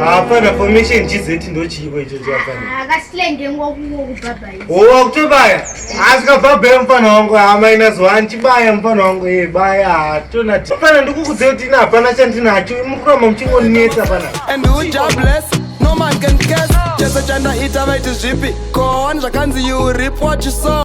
hapana formation gz ndochiiko ichocho hapanaowa kutobaya asikabhabhaya mfana wangu hamainazo hanchibaya mfana wangu e baya hatonati fana ndikukudzei kuti ina hapana chandinacho mukuramba muchingoninetsa fana chese chandaita vaiti zvipi koon zvakanzi you rip what you saw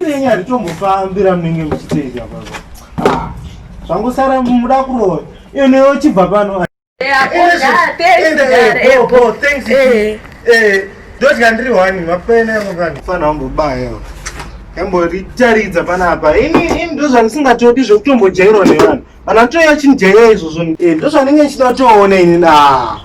Nenye hatitombofanbi ramunenge muchiteita baba. Ah, zvangosara muda kuroya. Iyo neyo chibva pano. Ndodya ndiri wani mapene yangu kani. Fana wangu baya. Yamboritaridza panapa. Ini ini ndozvandisingatodi zvekutombojairwa nevanhu. Kana toya chinijaira izvozvo. Eh, ndozvanenge ndichida toona ini na.